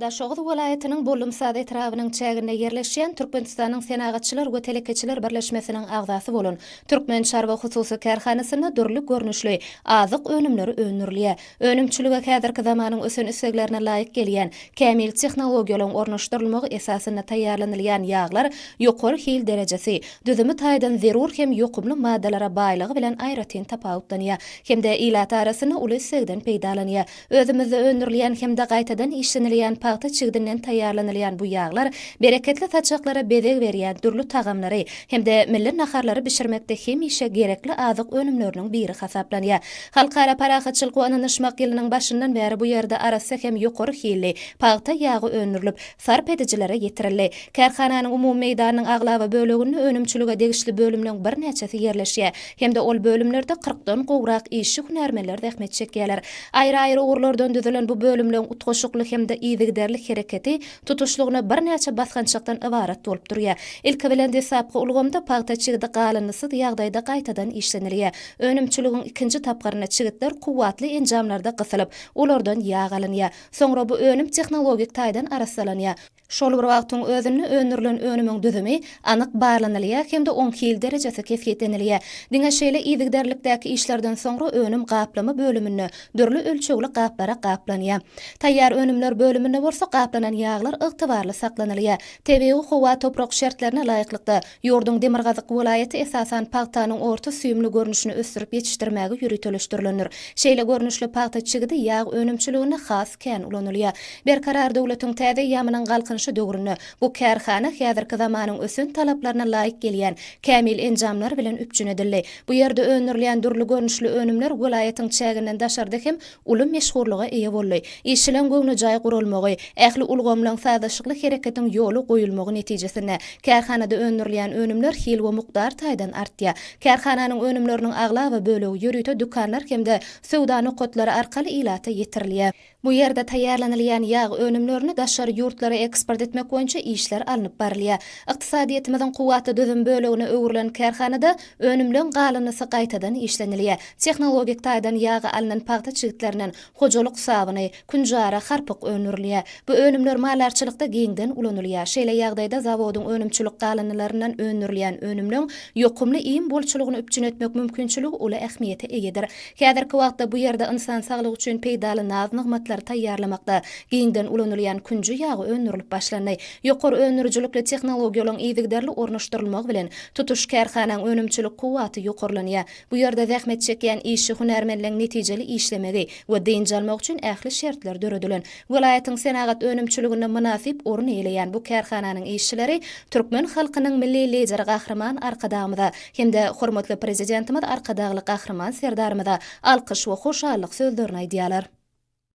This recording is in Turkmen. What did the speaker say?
Daşoguz welaýatynyň Bollumsaz etrabynyň çäginde ýerleşýän Türkmenistanyň Senagatçylar we telekeçiler birleşmesiniň agzasy bolan Türkmen çarwa hususy kärhanasynda dürli görnüşli azyk önümleri öndürilýär. Önümçilige häzirki zamanyň ösen isleglerine laýyk gelýän kämil tehnologiýalaryň ornaşdyrylmagy esasynda taýýarlanylýan ýaglar ýokary hil derejesi, düzümi taýdan zerur hem ýokumly maddalara baýlygy bilen aýratyn tapawutlanýar hem-de ilat arasynda uly islegden peýdalanýar. Özümizde öndürilýän hem-de gaýtadan işlenilýän pagta çigdinden taýýarlanylýan bu ýaglar bereketli saçaklara bezeg berýän dürli tagamlary hem-de milli naharlary bişirmekde hemişe gerekli azyk önümleriniň biri hasaplanýar. Halkara parahatçylyk we ynanyşmak ýylynyň başyndan bäri bu ýerde arassa hem ýokary hilli pagta ýagy öndürilip, sarp edijilere ýetirildi. Kärhananyň umumy meýdanynyň aglaba böleginde önümçilige degişli bölümleň birnäçesi ýerleşýär hem-de ol bölümlerde kyrkdan gowrak işçi-hünärmenler zähmet çekýärler. Aýry-aýry ugurlardan düzülen bu bölümleň utgaşykly hem-de yzygiderli hereketi tutuşlygyna birnäçe basgançakdan ybarat bolup durýar. Ilki bilen deslapky ulgamda pagta çigidi galyndysyz ýagdaýda gaýtadan işlenilýär. Önümçiligiň ikinji tapgyrynda çigitler kuwwatly enjamlarda gysylyp, olardan ýag alynýar. Soňra bu önüm tehnologik taýdan arassalanýar. Şol bir wagtyň özünde öndürilen önümiň düzümi anyk barlanylýar hem-de oň hil derejesi kesgitlenilýär. Diňe şeýle yzygiderlikdäki işlerden soňra önüm gaplama bölüminde dürli ölçegli gaplara gaplanýar. Taýýar önümler bölüminde bolsa gaplanan ýaglar ygtybarly saklanylýar. Tebigy howa-toprak şertlerine laýyklykda, Ýurduň demirgazyk welaýaty esasan pagtanyň orta süýümli görnüşini ösdürip ýetişdirmäge ýöriteleşdirilendir. Şeýle görnüşli pagta çigidi ýag önümçiliginde has kän ulanylýar. Berkarar döwletiň täze eýýamynyň Galkynyşy döwründe bu kärhana häzirki zamanyň ösen talaplaryna laýyk gelýän kämil enjamlar bilen üpjün edildi. Bu ýerde öndürilýän dürli görnüşli önümler welaýatyň çäginden daşarda hem uly meşhurlyga eýe boldy. Işçileň göwnejaý guralmagy, ähli ulgamlaň sazlaşykly hereketiň ýola goýulmagy netijesinde, kärhanada öndürilýän önümler hil we mukdar taýdan artýar. Kärhananyň önümleriniň aglaba bölegi ýörite dükanlar hem-de söwda nokatlary arkaly ilata ýetirilýär. Bu ýerde taýýarlanylýan ýag önümlerini daşary ýurtlara eksport etmek boýunça işler alnyp barylýar. Ykdysadyýetimiziň kuwwatly düzüm bölegine öwrülen kärhanada Önümleň galynysy gaýtadan işlenilýär. Tehnologik taýdan ýagy alnan pagta çigitlerinden hojalyk sabyny, künjara, harpyk öndürilýär. Bu önümler maldarçylykda giňden ulanylýar. Şeýle ýagdaýda zawodyň önümçilik galyndylaryndan öndürilýän önümleň ýokumly iým bolçulygyny üpjün etmek mümkinçiligi uly ähmiýete eýedir. Häzirki wagtda bu ýerde ynsan saglygy üçin peýdaly naz-nygmatlary taýýarlamakda giňden ulanylýan künji ýagy öndürilip başlandy. Ýokary öndürijilikli tehnologiýalaryň yzygiderli ornaşdyrylmagy bilen, Tutuş kärhanaň önümçilik kuwwaty ýokarlanýar. Bu ýerde zähmet çekýän işçi hünärmenleň netijeli işlemegi we dynç almagy üçin ähli şertler döredilen. Welaýatyň senagat önümçiliginde mynasyp orun eýeleýän bu kärhananyň işçileri türkmen halkynyň Milli Lideri Gahryman Arkadagymyza hem-de hormatly Prezidentimiz Arkadagly Gahryman Serdarymyza alkyş we hoşallyk sözlerini aýdýarlar.